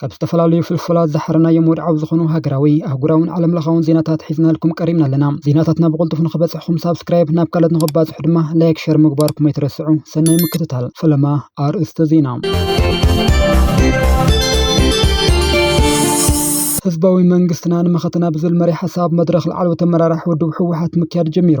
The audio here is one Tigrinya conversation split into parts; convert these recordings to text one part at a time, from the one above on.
ካብ ዝተፈላለዩ ፍልፍላት ዝሓረናዮም ወድዓዊ ዝኾኑ ሃገራዊ፣ ኣህጉራውን ዓለምለኻውን ዜናታት ሒዝናልኩም ቀሪብና ኣለና። ዜናታትና ብቕልጡፍ ንኽበጽሕኹም ሳብስክራይብ፣ ናብ ካልኦት ንኽባጽሑ ድማ ላይክ ሸር ምግባርኩም ኣይትረስዑ። ሰናይ ምክትታል። ፈለማ ኣርእስተ ዜና። ህዝባዊ መንግስትና ንመኸተና ብዝብል መሪሕ ሓሳብ መድረኽ ላዕለዎት ኣመራርሓ ውድብ ህወሓት ምክያድ ጀሚሩ።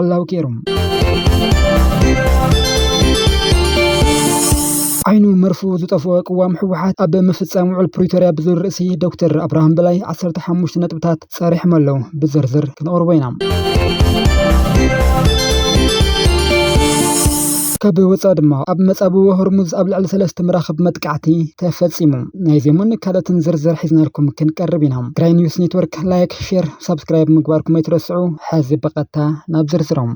ዕላዊ ኬሩ። ዓይኑ መርፍኡ ዝጠፍኦ ቅዋም ህወሓት ኣብ ምፍፃም ውዕል ፕሪቶርያ ብዝብል ርእሲ ዶክተር ኣብርሃም በላይ ዓሰርተ ሓሙሽተ ነጥብታት ፀሪሖም ኣለዉ። ብዝርዝር ክንቕርቦ ኢና። ካብ ወፃኢ ድማ ኣብ መፃብቦ ሆርሙዝ ኣብ ልዕሊ ሰለስተ መራኽብ መጥቃዕቲ ተፈፂሙ። ናይዚኦምን ካልኦትን ዝርዝር ሒዝናልኩም ክንቀርብ ኢና። ትግራይ ኒውስ ኔትወርክ ላይክ ሼር ሳብስክራይብ ምግባርኩም ኣይትረስዑ። ሕዚ ብቐጥታ ናብ ዝርዝሮም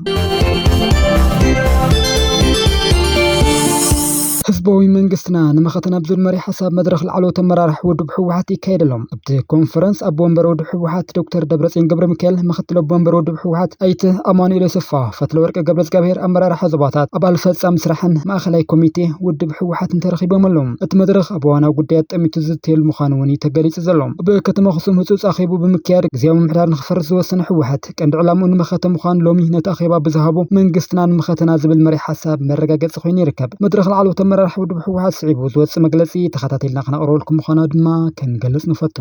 ህዝባዊ መንግስትና ንመኸተ ናብ ዝብል መሪሕ ሓሳብ መድረኽ ላዕለዎት ኣመራርሓ ውድብ ህወሓት ይካየድ ኣሎ። ኣብቲ ኮንፈረንስ ኣቦ ወንበር ውድብ ህወሓት ዶክተር ደብረፅዮን ገብረ ሚካኤል፣ ምክትል ኣቦ ወንበር ውድብ ህወሓት ኣይተ ኣማኑኤል ኣሰፋ፣ ፈትለወርቂ ገብረእዝጋብሄር፣ ኣመራርሓ ዞባታት፣ ኣባል ፈፃሚ ስራሕን ማእኸላይ ኮሚቴ ውድብ ህወሓትን ተረኺቦም ኣለዉ። እቲ መድረኽ ኣብ እዋናዊ ጉዳያት ጠሚቱ ዝዝተየሉ ምዃኑ እውን እዩ ተገሊፁ ዘሎ። ኣብ ከተማ ኣኽሱም ህፁፅ ኣኼቡ ብምክያድ ግዝያዊ ምምሕዳር ንክፈርስ ዝወሰነ ህወሓት ቀንዲ ዕላምኡ ንመኸተ ምዃኑ ሎሚ ነቲ ኣኼባ ብዝሃቦ መንግስትና ንመኸተና ዝብል መሪሕ ሓሳብ መረጋገፂ ኮይኑ ይርከብ። መድረኽ ላዕለዎት ኣመራርሓ ውድብ ህወሓት ስዒቡ ዝወፅእ መግለፂ ተኸታቲልና ክነቕርበልኩም ምዃና ድማ ክንገልፅ ንፈቱ።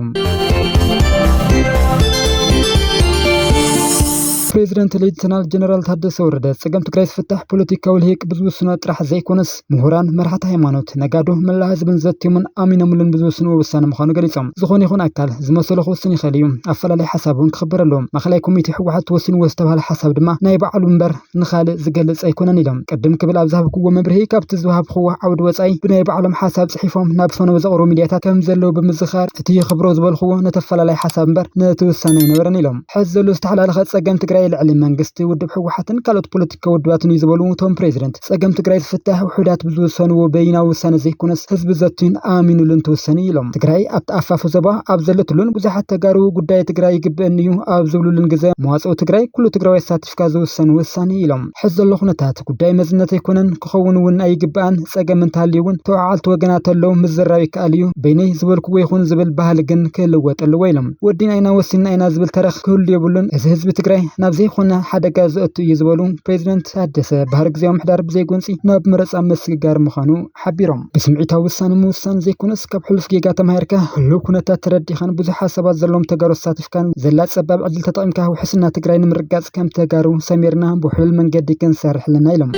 ፕሬዚደንት ሌተናል ጀነራል ታደሰ ወረደ ፀገም ትግራይ ዝፍታሕ ፖለቲካዊ ልሂቅ ብዝውስኖ ጥራሕ ዘይኮነስ ምሁራን፣ መራሕቲ ሃይማኖት፣ ነጋዶ፣ መላእ ህዝብን ዘትዮምን ኣሚኖምሉን ብዝውስንዎ ውሳነ ምዃኑ ገሊፆም። ዝኾነ ይኹን ኣካል ዝመሰሎ ክውስን ይኽእል እዩ፣ ኣፈላላይ ሓሳብ እውን ክኽበር ኣለዎ። ማእኸላይ ኮሚቴ ህወሓት ወሲንዎ ዝተብሃለ ሓሳብ ድማ ናይ ባዕሉ እምበር ንኻልእ ዝገልፅ ኣይኮነን ኢሎም። ቅድም ክብል ኣብ ዝሃብክዎ መብርሂ ካብቲ ዝወሃብክዎ ዓውዲ ወፃኢ ብናይ ባዕሎም ሓሳብ ፅሒፎም ናብ ፈነወ ዘቕርቡ ሚድያታት ከምዘለዉ ብምዝኻር እቲ ይኽብሮ ዝበልክዎ ነቲ ኣፈላላይ ሓሳብ እምበር ነቲ ውሳነ ኣይነበረን ኢሎም። ሐዚ ዘሎ ዝተሓላለኸ ፀገም ትግራይ ልዕሊ መንግስቲ፣ ውድብ ህወሓትን ካልኦት ፖለቲካዊ ውድባትን እዩ ዝበሉ እቶም ፕሬዝደንት፣ ፀገም ትግራይ ዝፍታሕ ውሑዳት ብዝውሰንዎ በይናዊ ውሳነ ዘይኮነስ ህዝቢ ዘትዩን ኣሚኑሉ እንትውሰን እዩ ኢሎም። ትግራይ ኣብቲ ኣፋፉ ዞባ ኣብ ዘለትሉን ብዙሓት ተጋሩ ጉዳይ ትግራይ ይግበእኒ እዩ ኣብ ዝብሉሉን ግዘ መዋፅኦ ትግራይ ኩሉ ትግራዋይ ኣሳቲፍካ ዝውሰን ውሳነ እዩ ኢሎም። ሕዚ ዘሎ ኩነታት ጉዳይ መዝነት ኣይኮነን፣ ክኸውን እውን ኣይግበኣን፣ ፀገም እንተሃልዩ እውን ተወዓዓልቲ ወገናት ኣለው ምዝርራብ ይከኣል እዩ፣ በይነይ ዝበልኩዎ ይኹን ዝብል ባህሊ ግን ክልወጥ ኣለዎ ኢሎም። ወዲና ኢና ወሲንና ኢና ዝብል ተረኽ ክህሉ የብሉን፣ እዚ ህዝቢ ትግራይ ናብ ዘይኾነ ሓደጋ ዘእቱ እዩ ዝበሉ ፕሬዚደንት ታደሰ፣ ባህሪ ግዝያዊ ምምሕዳር ብዘይጎንፂ ናብ መረፃ ምስግጋር ምዃኑ ሓቢሮም። ብስምዒታዊ ውሳነ ምውሳን ዘይኮነስ ካብ ሕሉፍ ጌጋ ተማሂርካ ህልው ኩነታት ተረዲእኻን ብዙሕ ሓሳባት ዘለዎም ተጋሩ ኣሳቲፍካን ዘላ ፀባብ ዕድል ተጠቒምካ ውሕስና ትግራይ ንምርግጋፅ ከም ተጋሩ ሰሚርና ብውሕሉል መንገዲ ክንሰርሕ ኣለና ኢሎም።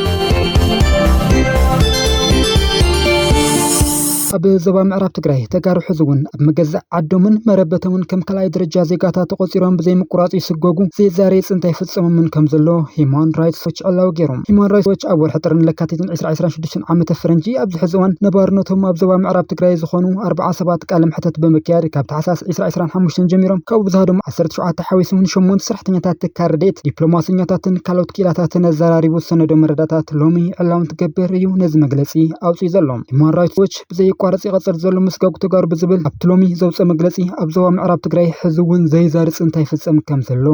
ኣብ ዞባ ምዕራብ ትግራይ ተጋሩ ሕዚ እውን ኣብ መገዛእ ዓዶምን መረበቶምን ከም ካልኣይ ደረጃ ዜጋታት ተቖፂሮም ብዘይምቁራፅ ይስጎጉ፣ ዘይዛረይ ፅንታ ይፍፀመምን ከም ዘሎ ሂዩማን ራይትስ ዎች ዕላዊ ገይሩ። ሂዩማን ራይትስ ዎች ኣብ ወርሒ ጥርን ለካቲትን ዕስራ ዕስራን ሽዱሽተን ዓመተ ፈረንጂ ኣብዚ ሕዚ እዋን ነባርነቶም ኣብ ዞባ ምዕራብ ትግራይ ዝኾኑ ኣርብዓ ሰባት ቃለ መሕተት ብምክያድ ካብ ታሕሳስ ዕስራ ዕስራን ሓሙሽተን ጀሚሮም ካብኡ ብዝሃደሙ ዓሰርተ ሸውዓተ ሓዊሱ ንሸሞንተ ሰራሕተኛታት ትካል ረድኤት፣ ዲፕሎማሰኛታትን ካልኦት ክኢላታትን ኣዘራሪቡ ዝሰነዶ መረዳእታት ሎሚ ዕላዊ እንትገብር እዩ ነዚ መግለፂ ኣውፂኡ ዘሎ። ሂማን ራይትስ ዎች ብዘየቋርፅ ይቐፅል ዘሎ ምስጋጉ ተጋሩ ብዝብል ኣብቲ ሎሚ ዘውፀ መግለፂ ኣብ ዞባ ምዕራብ ትግራይ ሕዚ እውን ዘይዛሪ ፅንታ ይፍፀም ከም ዘሎ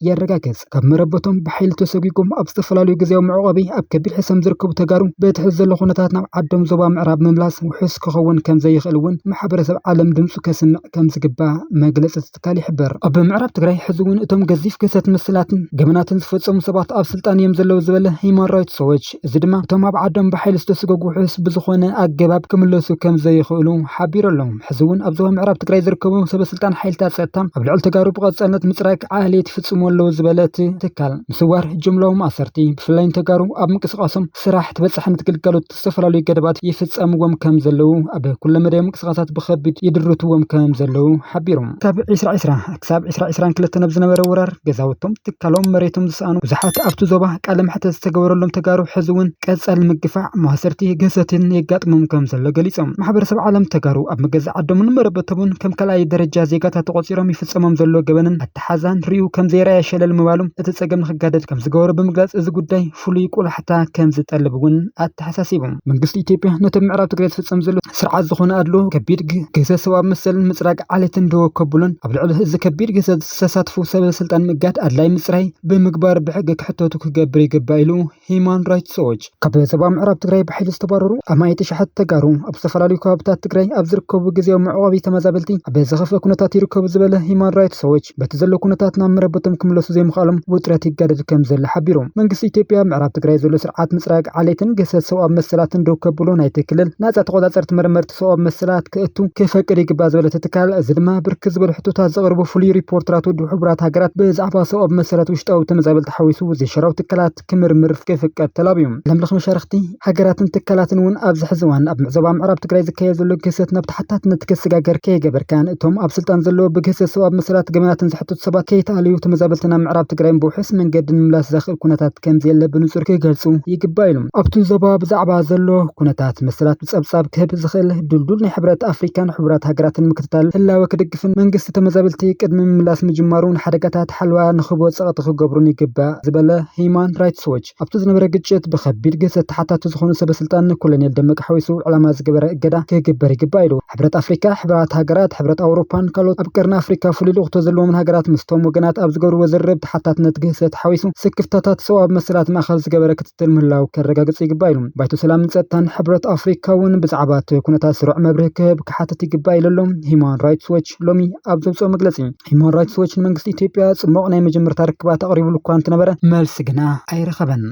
የረጋገፅ። ካብ መረበቶም ብሓይሊ ተሰጒጎም ኣብ ዝተፈላለዩ ግዝያዊ መዕቆቢ ኣብ ከቢድ ሕሰም ዝርከቡ ተጋሩ በቲ ሕዚ ዘሎ ኩነታት ናብ ዓዶም ዞባ ምዕራብ ምምላስ ውሑስ ክኸውን ከም ዘይኽእል እውን ማሕበረሰብ ዓለም ድምፁ ከስምዕ ከም ዝግባእ መግለፅታት ትካል ይሕብር። ኣብ ምዕራብ ትግራይ ሕዚ እውን እቶም ገዚፍ ግህሰት ምስላትን ገበናትን ዝፈጸሙ ሰባት ኣብ ስልጣን እዮም ዘለዉ ዝበለ ሂዩማን ራይትስ ዎች፣ እዚ ድማ እቶም ኣብ ዓዶም ብሓይሊ ዝተስገጉ ውሑስ ብዝኾነ ኣገባብ ክምለሱ ከም ዘይኽእሉ ሓቢሩ ኣሎ። ሕዚ እውን ኣብ ዞባ ምዕራብ ትግራይ ዝርከቡ ሰበስልጣን ሓይልታት ጸጥታ ኣብ ልዕሊ ተጋሩ ብቐጻልነት ምጽራግ፣ ዓሌት ይፍጽሙ ኣለዉ ዝበለ እቲ ትካል፣ ምስዋር፣ ጅምላዊ ማእሰርቲ፣ ብፍላይ ንተጋሩ ኣብ ምንቅስቓሶም ስራሕ፣ ተበጻሕነት ግልጋሎት፣ ዝተፈላለዩ ገደባት ይፍፀምዎም ከም ዘለዉ ኣብ ኩለ መዳያዊ ምንቅስቓሳት ብኸቢድ ይድርትዎም ከም ዘለዉ ሓቢሮም። ካብ ዒስራ ዒስራ ክሳብ ዒስራ ዒስራን ክልተን ኣብ ዝነበረ ወራር ገዛውቶም፣ ትካሎም፣ መሬቶም ዝሰኣኑ ብዙሓት ኣብቲ ዞባ ቃለ መሕተት ዝተገበረሎም ተጋሩ ሕዚ እውን ቀፃሊ ምግፋዕ፣ ማእሰርቲ፣ ግህሰትን የጋጥሞም ከም ዘሎ ገሊፆም። ማሕበረሰብ ዓለም ተጋሩ ኣብ መገዛእ ዓዶምን መረበቶምን ከም ካልኣይ ደረጃ ዜጋታት ተቖፂሮም ይፍፀሞም ዘሎ ገበንን ኣተሓዛን ርእዩ ከምዘይረኣየ ሸለል ምባሉ እቲ ጸገም ንክጋደድ ከምዝገበሮ ብምግላጽ እዚ ጉዳይ ፍሉይ ቆላሕታ ከምዝጠልብ እውን ኣተሓሳሲቡ። መንግስቲ ኢትዮጵያ ነቲ ኣብ ምዕራብ ትግራይ ዝፍጸም ዘሎ ስርዓት ዝኾነ ኣድልዎ፣ ከቢድ ግህሰት ሰብኣዊ መሰልን ምጽራግ ዓሌትን ደወ ከብሎን ኣብ ልዕሊ እዚ ከቢድ ግህሰት ዝተሳትፉ ሰበ ስልጣን ምእጋድ ኣድላይ ምጽራይ ብምግባር ብሕጊ ክሕተቱ ክገብር ይግባእ ኢሉ። ሂማን ራይትስ ዎች ካብ ዞባ ምዕራብ ትግራይ ብሓይሊ ዝተባረሩ ኣማኢት ኣሽሓት ተጋሩ ኣብ ዝተፈላለዩ ከባቢታት ትግራይ ኣብ ዝርከቡ ግዜያዊ መዕቆቢ ተመዛበልቲ ኣብ ዘኸፍአ ኩነታት ይርከቡ ዝበለ ሂማን ራይትስ ዎች በቲ ዘሎ ኩነታት ናብ መረበቶም ክምለሱ ዘይምኽኣሎም ውጥረት ይጋደድ ከም ዘሎ ሓቢሩ። መንግስቲ ኢትዮጵያ ኣብ ምዕራብ ትግራይ ዘሎ ስርዓት ምፅራግ ዓሌትን ግህሰት ሰብኣዊ መሰላትን ደው ከብሎ ናይቲ ክልል ናፃ ተቆፃፀርቲ መርመርቲ ሰብኣዊ መሰላት ክእቱ ክፈቅድ ይግባእ ዝበለ እቲ ትካል እዚ ድማ ብርክት ዝበሉ ሕቶታት ዘቕርቡ ፍሉይ ሪፖርተራት ውድብ ሕቡራት ሃገራት ብዛዕባ ሰብኣዊ መሰላት ውሽጣዊ ተመዛበልቲ ሓዊሱ ዘይሸራዊ ትካላት ክምርምር ክፍቀድ ተላብዩ። ዓለምለኽ መሻርኽቲ፣ ሃገራትን ትካላትን እውን ኣብዚ ሕዚ እዋን ኣብ ምዕዞባ ምዕራብ ትግራይ ዝካየድ ዘሎ ግህሰት ናብ ተሓታትነት ክስጋገር ከይገበርካ ንእቶም ኣብ ስልጣን ዘለዉ ብግህሰት ሰብኣዊ መሰላት ገበናትን ዝሕተቱ ሰባት ከይተኣለዩ ተመዛበልቲ ናብ ምዕራብ ትግራይ ብውሑስ መንገዲ ንምምላስ ዘኽእል ኩነታት ከምዘየለ ብንፁር ክገልፁ ይግባእ ኢሉ። ኣብቲ ዞባ ብዛዕባ ዘሎ ኩነታት መሰላት ብፀብፃብ ክህብ ዝኽእል ድልዱል ናይ ሕብረት ኣፍሪካን ሕቡራት ሃገራትን ምክትታል ህላወ ክድግፍ እቲ መንግስቲ ተመዛበልቲ ቅድሚ ምምላስ ምጅማሩ ንሓደጋታት ሓለዋ ንክህቦ ፀቕጢ ክገብሩን ይግባእ ዝበለ ህይማን ራይትስ ዎች ኣብቲ ዝነበረ ግጭት ብከቢድ ግህሰት ተሓታቲ ዝኾኑ ሰበስልጣን ንኮሎኔል ደመቀ ሓዊሱ ዕላማ ዝገበረ እገዳ ክግበር ይግባእ ኢሉ። ሕብረት ኣፍሪካ፣ ሕቡራት ሃገራት፣ ሕብረት ኣውሮፓን ካልኦት ኣብ ቀርኒ ኣፍሪካ ፍሉይ ልኡኽቶ ዘለዎምን ሃገራት ምስቶም ወገናት ኣብ ዝገብርዎ ዝርርብ ተሓታትነት ግህሰት ሓዊሱ ስክፍታታት ሰብኣዊ መሰላት ማእኸል ዝገበረ ክትትል ምህላው ከረጋግፅ ይግባእ ኢሉ። ባይቶ ሰላምን ፀጥታን ሕብረት ኣፍሪካ እውን ብዛዕባ እቲ ኩነታት ስሩዕ መብርሂ ክህብ ክሓትት ይግባእ ኢሉ ኣሎ ሂዩማን ራይትስ ዎች ሎሚ ኣብ ዘውፅኦ መግለፂ። ሂዩማን ራይትስ ዎች ንመንግስቲ ኢትዮጵያ ፅቡቕ ናይ መጀመርታ ርክባት ኣቕሪብሉ እኳ እንተነበረ መልሲ ግና ኣይረኸበን።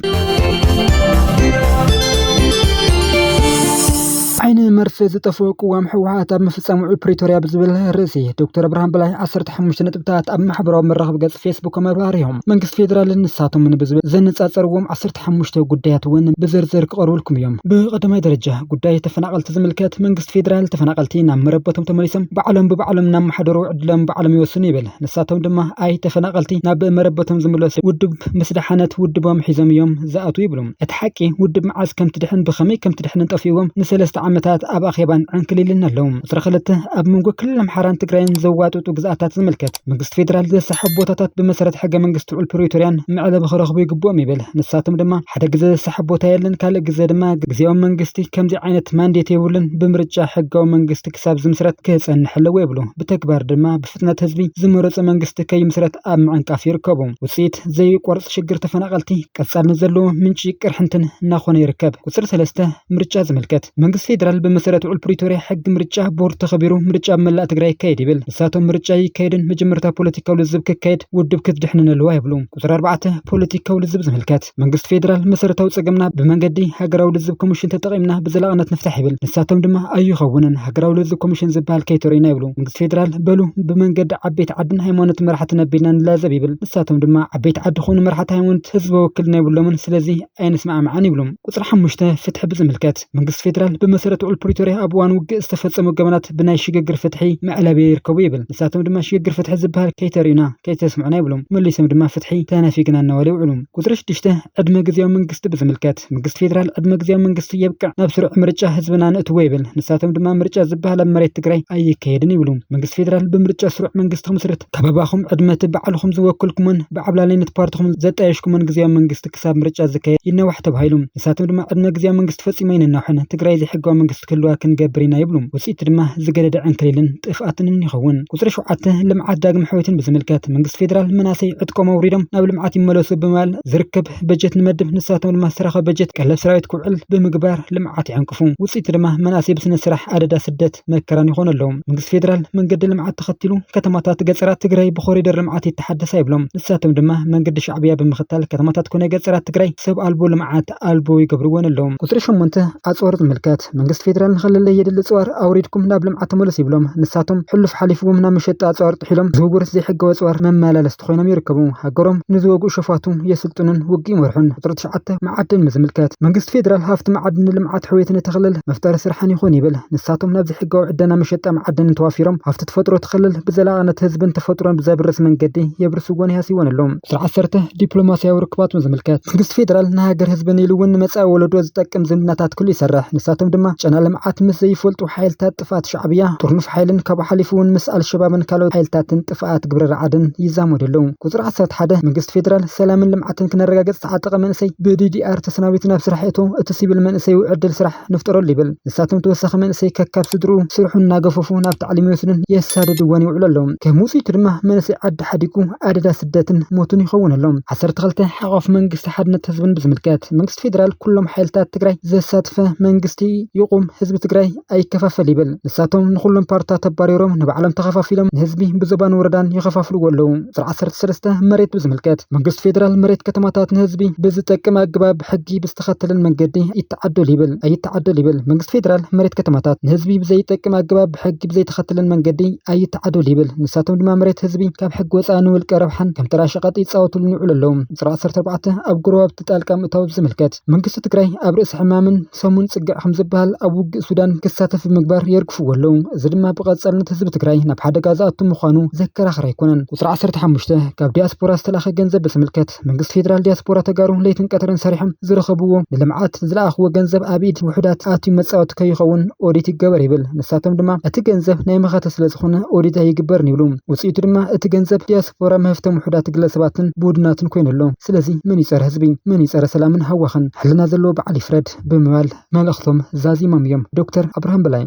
ዓይኒ መርፌ ዝጠፍኦ ቅዋም ህወሓት ኣብ ምፍፃም ውዕል ፕሪቶርያ ብዝብል ርእሲ ዶክተር ብርሃን በላይ 15 ነጥብታት ኣብ ማሕበራዊ መራኸቢ ገፅ ፌስቡክ መብራህርዮም መንግስቲ ፌዴራልን ንሳቶምን ብዝብል ዘነፃፀርዎም ካልኦት ሓሙሽተ ጉዳያት እውን ብዝርዝር ክቐርቡልኩም እዮም። ብቐዳማይ ደረጃ ጉዳይ ተፈናቐልቲ ዝምልከት መንግስቲ ፌዴራል ተፈናቐልቲ ናብ መረበቶም ተመሊሶም ባዕሎም ብባዕሎም እናመሓደሩ ዕድሎም ባዕሎም ይወስኑ ይብል። ንሳቶም ድማ ኣይ ተፈናቐልቲ ናብ መረበቶም ዝምለሱ ውድብ ምስ ደሓነት ውድቦም ሒዞም እዮም ዝኣትዉ ይብሉ። እቲ ሓቂ ውድብ መዓዝ ከምትድሕን ብኸመይ ከምትድሕንን ጠፊእዎም ንሰለስተ ዓመታት ኣብ ኣኼባን ዕንክሊልን ኣለዉ። ቁፅሪ ክልተ ኣብ መንጎ ክልል ኣምሓራን ትግራይን ዘዋጥጡ ግዝኣታት ዝምልከት። መንግስቲ ፌደራል ዘሰሓብ ቦታታት ብመሰረት ሕገ መንግስቲ ውዕል ፕሪቶርያን መዕለቢ ክረኽቡ ይግብኦም ይብል። ንሳቶም ድማ ሓደ ግዘ ዘሰሓብ ቦታ የለን፣ ካልእ ግዘ ድማ ግዝያዊ መንግስቲ ከምዚ ዓይነት ማንዴት የብሉን፣ ብምርጫ ሕጋዊ መንግስቲ ክሳብ ዝምስረት ክፀንሕ ኣለዎ ይብሉ። ብተግባር ድማ ብፍጥነት ህዝቢ ዝመረፆ መንግስቲ ከይምስረት ኣብ ምዕንቃፍ ይርከቡ። ውፅኢት ዘዩቋርፅ ሽግር ተፈናቐልቲ ቀፃልነት ዘለዎ ምንጪ ቅርሕንትን እናኾነ ይርከብ። ቁፅሪ ሰለስተ፣ ምርጫ ዝምልከት መንግስቲ ፌደራል ብመሰረት ውዕል ፕሪቶርያ ሕጊ ምርጫ ቦርድ ተኸቢሩ ምርጫ ኣብ መላእ ትግራይ ይካየድ ይብል። ንሳቶም ምርጫ ይካየድን መጀመርታ ፖለቲካዊ ልዝብ ክካየድ ውድብ ክትድሕንን ኣለዋ ይብሉ። ቁፅሪ ኣርባዕተ ፖለቲካዊ ልዝብ ዝምልከት መንግስቲ ፌዴራል መሰረታዊ ፀገምና ብመንገዲ ሃገራዊ ልዝብ ኮሚሽን ተጠቒምና ብዘላቕነት ንፍታሕ ይብል። ንሳቶም ድማ ኣይኸውንን ሃገራዊ ልዝብ ኮሚሽን ዝብሃል ከይተርእዩና ይብሉ። መንግስቲ ፌዴራል በሉ ብመንገዲ ዓበይቲ ዓድን ሃይማኖትን መራሕትን ኣቢልና ንላዘብ ይብል። ንሳቶም ድማ ዓበይቲ ዓዲ ኮኑ መራሕቲ ሃይማኖት ህዝበ ውክልና የብሎምን ስለዚ ኣይንስማዕማዕን ይብሉ። ቁፅሪ ሓሙሽተ፣ ፍትሒ ብዝምልከት መንግስቲ ፌዴራል ብመሰረት ውዕል ፕሪቶሪያ ኣብ እዋን ውግእ ዝተፈፀሙ ገበናት ብናይ ሽግግር ፍትሒ መዕለቢ ይርከቡ ይብል። ንሳቶም ድማ ሽግግር ፍትሒ ዝበሃል ከይተርእዩና፣ ከይተስምዑና ይብሉ። መሊሶም ድማ ፍትሒ ተነፊግና እናበሉ ይውዕሉ። ቁፅሪ ሽዱሽተ፣ ዕድመ ግዝያዊ መንግስቲ ብዝምልከት መንግስቲ ፌዴራል ዕድመ ግዝያዊ መንግስቲ የብቅዕ ናብ ስሩዕ ምርጫ ህዝብና ነእትዎ ይብል። ንሳቶም ድማ ምርጫ ዝበሃል ኣብ መሬት ትግራይ ኣይካየድን ይብሉ። መንግስቲ ፌዴራል ብምርጫ ስሩዕ መንግስቲ ክምስርት ካብ ኣባኹም ዕድመ እቲ ባዕልኹም ዝወከልኩሞን ብዓብላላይነት ፓርትኹም ዘጣየሽኩሞን ግዝያዊ መንግስቲ ክሳብ ምርጫ ዝካየድ ይናዋሕ ተባሂሉ። ንሳቶም ድማ ዕድመ ግዝያዊ መንግስቲ ፈፂሙ ኣይነናውሕን፣ ትግራይ ዘይሕጋዊ መንግስቲ ክህልዋ ክንገብር ኢና ይብሉ። ውፅኢቱ ድማ ዝገደደ ዕንክሊልን ጥፍኣትንን ይኸውን። ቁፅሪ ሸውዓተ፣ ልምዓት ዳግም ሕውየትን ብዝምልከት መንግስቲ ፌዴራል መናእሰይ ዕጥቆም ኣውሪዶም ናብ ልምዓት ይመለሱ ብምባል ዝርከብ በጀት ንመድብ፣ ንሳቶም ድማ ዝተረኸበ በጀት ቀለብ ሰራዊት ክውዕል ብምግባር ልምዓት ይዕንቅፉ። ውፅኢቱ ድማ መናእሰይ ብስነ ስራሕ ኣደዳ ስደት፣ መከራን ይኾኑ ኣለዉ። መንግስቲ ፌደራል መንገዲ ልምዓት ተኸቲሉ ከተማታት ገፀራት ትግራይ ብኮሪደር ልምዓት ይተሓደሳ ይብሎም። ንሳቶም ድማ መንገዲ ሻዕብያ ብምኽታል ከተማታት ኮነ ገፀራት ትግራይ ሰብ ኣልቦ ልምዓት ኣልቦ ይገብርወን ኣለዉ። ቁፅሪ ሸሞንተ ኣፅዋር ዝምልከት መንግስቲ ፌደራል ንክልለይ የድሊ ፅዋር ኣውሪድኩም ናብ ልምዓት ተመለሱ ይብሎም። ንሳቶም ሕሉፍ ሓሊፍዎም ናብ መሸጢ ኣፅዋር ጥሒሎም ዝውውር ዘይሕጋዊ ኣፅዋር መመላለስቲ ኮይኖም ይርከቡ። ሃገሮም ንዝወግኡ ሸፋቱ የስልጥኑን ውግእ ይመርሑን። ቁፅሪ ስርዓተ መዓድን ብዝምልከት፣ መንግስቲ ፌደራል ሃፍቲ መዓድን ንልምዓት ሕውየትን እቲ ክልል መፍጠሪ ስራሕን ይኹን ይብል። ንሳቶም ናብ ዘይሕጋዊ ዕደና መሸጣ መዓድንን ተዋፊሮም ሃፍቲ ተፈጥሮ እቲ ክልል ብዘላቕነት ህዝብን ተፈጥሮን ብዘብርስ መንገዲ የብርስዎን ይሃስይዎን ኣለዉ። ስርዓት ዓሰርተ፣ ዲፕሎማሲያዊ ርክባት ብዝምልከት፣ መንግስቲ ፌደራል ንሃገር ህዝብን ኢሉ እውን ንመፃኢ ወለዶ ዝጠቅም ዝምድናታት ክህሉ ይሰርሕ። ንሳቶም ድማ ጨና ልምዓት ምስ ዘይፈልጡ ሓይልታት፣ ጥፍኣት ሻዕብያ ጥርኑፍ ሓይልን ካብኡ ሓሊፉ እውን ምስ ኣልሸባብን ካልኦት ሓይልታትን ጥፍኣት ግብረ ራዕድን ይዛመዱ ኣለዉ። ቁፅሪ ዓሰርተ ሓደ፣ መንግስቲ ፌዴራል ሰላምን ልምዓትን ክነረጋግፅ ዝተዓጠቐ መንእሰይ ብዲዲኣር ተሰናቢቱ ናብ ስራሕ ይእቶ፣ እቲ ሲቪል መንእሰይ እው ዕድል ስራሕ ንፍጠረሉ ይብል። ንሳቶም ተወሳኺ መንእሰይ ከካብ ስድርኡ ስርሑ እናገፈፉ ናብ ታዕሊም ይወስዱን የሳድድዎን ይውዕሉ ኣለዉ። ከም ውፅኢቱ ድማ መንእሰይ ዓዲ ሓዲጉ ኣደዳ ስደትን ሞትን ይኸውን ኣሎ። ዓሰርተ ክልተ፣ ሓቋፊ መንግስቲ ሓድነት ህዝብን ብዝምልከት መንግስቲ ፌዴራል ኩሎም ሓይልታት ትግራይ ዘሳተፈ መንግስቲ ይቑም፣ ህዝቢ ትግራይ ኣይከፋፈል ይብል። ንሳቶም ንኹሎም ፓርትታት ኣባሪሮም ንባዕሎም ተኸፋፊሎም ንህዝቢ ብዞባን ወረዳን ይኸፋፍልዎ ኣለዉ። ቁፅሪ ዓሰርተ ሰለስተ መሬት ብዝምልከት መንግስቲ ፌዴራል መሬት ከተማታት ንህዝቢ ብዝጠቅም ኣገባብ ሕጊ ብዝተኸተለን መንገዲ ይተዓደል ይብል ኣይተዓደል ይብል። መንግስቲ ፌዴራል መሬት ከተማታት ንህዝቢ ብዘይጠቅም ኣገባብ ብሕጊ ብዘይተኸተለን መንገዲ ኣይተዓደል ይብል። ንሳቶም ድማ መሬት ህዝቢ ካብ ሕጊ ወፃኢ ንውልቀ ረብሓን ከም ተራ ሸቐጥ ይፃወትሉን ይውዕሉ ኣለዉ። ቁፅሪ ዓሰርተ ኣርባዕተ ኣብ ጎረባብቲ ጣልቃ ምእታው ብዝምልከት። መንግስቲ ትግራይ ኣብ ርእሲ ሕማምን ሰሙን ፅግዕ ከም ዝበሃል ኣብ ውግእ ሱዳን ክሳተፍ ብምግባር የርግፍዎ ኣለዉ። እዚ ድማ ብቐፃልነት ህዝቢ ትግራይ ናብ ሓደጋ ዝኣቱ ምዃኑ ዘከራኽር ኣይኮነን። ቁፅሪ ዓሰርተ ሓሙሽተ ካብ ዲያስፖራ ዝተላኸ ገንዘብ በስምልከት መንግስቲ ፌዴራል ዲያስፖራ ተጋሩ ለይትን ቀትርን ሰሪሖም ዝረኸብዎ ንልምዓት ዝለኣኽዎ ገንዘብ ኣብ ኢድ ውሑዳት ኣትዩ መፃወቲ ከይኸውን ኦዲት ይገበር ይብል። ንሳቶም ድማ እቲ ገንዘብ ናይ መኸተ ስለዝኾነ ኦዲት ኣይግበርን ይብሉ። ውፅኢቱ ድማ እቲ ገንዘብ ፎረም ሀፍቶም ውሑዳት ግለሰባትን ብውድናትን ኮይኑ ኣሎ። ስለዚ መን እዩ ፀረ ህዝቢ? መን እዩ ፀረ ሰላምን ሃዋኽን? ሕልና ዘለዎ በዓል ይፍረድ ብምባል መልእኽቶም ዛዚሞም እዮም ዶክተር ኣብርሃም በላይ።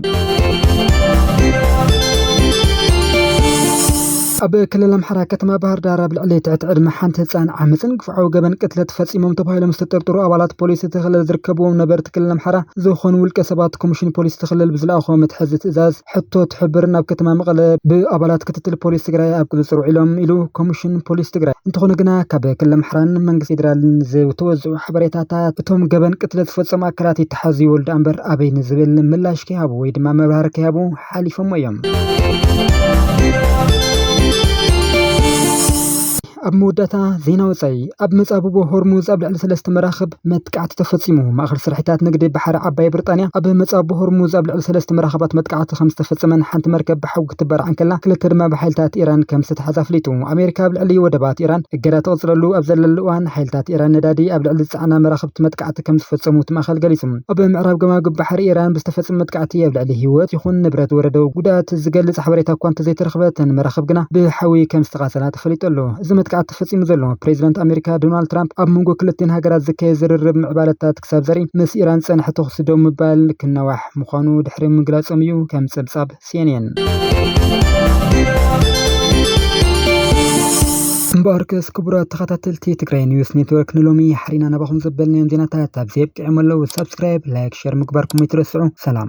ኣብ ክልል ኣምሓራ ከተማ ባህር ዳር ኣብ ልዕሊ ትሕቲ ዕድመ ሓንቲ ህፃን ዓመፅን ግፍዓዊ ገበን ቅትለት ፈፂሞም ተባሂሎም ዝተጠርጠሩ ኣባላት ፖሊስ እቲ ክልል ዝርከብዎም ነበርቲ ክልል ኣምሓራ ዝኾኑ ውልቀ ሰባት ኮሚሽን ፖሊስ እቲ ክልል ብዝለኣኾ መትሓዚ ትእዛዝ ሕቶ ትሕብር ናብ ከተማ መቐለ ብኣባላት ክትትል ፖሊስ ትግራይ ኣብ ቁፅፅር ውዒሎም ኢሉ ኮሚሽን ፖሊስ ትግራይ። እንተኾነ ግና ካብ ክልል ኣምሓራን መንግስቲ ፌዴራልን ዝተወዝዑ ሓበሬታታት እቶም ገበን ቅትለት ዝፈፀሙ ኣካላት ይተሓዙ ይበሉ ደኣ እምበር ኣበይ ንዝብል ምላሽ ከይሃቡ ወይ ድማ መብራህርሂ ከይሃቡ ሓሊፎሞ እዮም። ኣብ መወዳእታ ዜና ወፃኢ፣ ኣብ መጻብቦ ሆርሙዝ ኣብ ልዕሊ ሰለስተ መራኽብ መጥቃዕቲ ተፈጺሙ። ማእኸል ስርሒታት ንግዲ ባሕሪ ዓባይ ብርጣንያ፣ ኣብ መጻብቦ ሆርሙዝ ኣብ ልዕሊ ሰለስተ መራኽባት መጥቃዕቲ ከምዝተፈጸመን ሓንቲ መርከብ ብሓዊ ክትበራዕ እንከላ ክልተ ድማ ብሓይልታት ኢራን ከምዝተታሕዘ ኣፍሊጡ። ኣሜሪካ ኣብ ልዕሊ ወደባት ኢራን እገዳ ተቕጽለሉ ኣብ ዘለሉ እዋን፣ ሓይልታት ኢራን ነዳዲ ኣብ ልዕሊ ዝጸዓና መራኽብቲ መጥቃዕቲ መጥቃዕቲ ከም ዝፈጸሙ እቲ ማእከል ገሊጹ። ኣብ ምዕራብ ገማግም ባሕሪ ኢራን ብዝተፈጸመ መጥቃዕቲ ኣብ ልዕሊ ህይወት ይኹን ንብረት ዝወረደ ጉድኣት ዝገልጽ ሓበሬታ እኳ እንተዘይተረኽበ እተን መራኽብ ግና ብሓዊ ከም ዝተቓጸላ ተፈሊጡ ኣሎ። እዚ መጥቃዕቲ ተፈጺሙ ዘሎ፣ ፕሬዚደንት ኣሜሪካ ዶናልድ ትራምፕ ኣብ መንጎ ክልቲኤን ሃገራት ዝካየድ ዝርርብ ምዕባለታት ክሳብ ዘርኢ ምስ ኢራን ዝጸንሐ ተኹሲ ደው ምባል ክናዋሕ ምዃኑ ድሕሪ ምግላጾም እዩ ከም ጸብጻብ ሴኔን። እምበኣርከስ ክቡራት ተኸታተልቲ ትግራይ ኒውስ ኔትወርክ ንሎሚ ሓሪና ናባኹም ዘበልናዮም ዜናታት ኣብዚ ኣብቂዖም ኣለዉ። ሳብስክራይብ፣ ላይክ፣ ሸር ምግባርኩም ኣይትረስዑ። ሰላም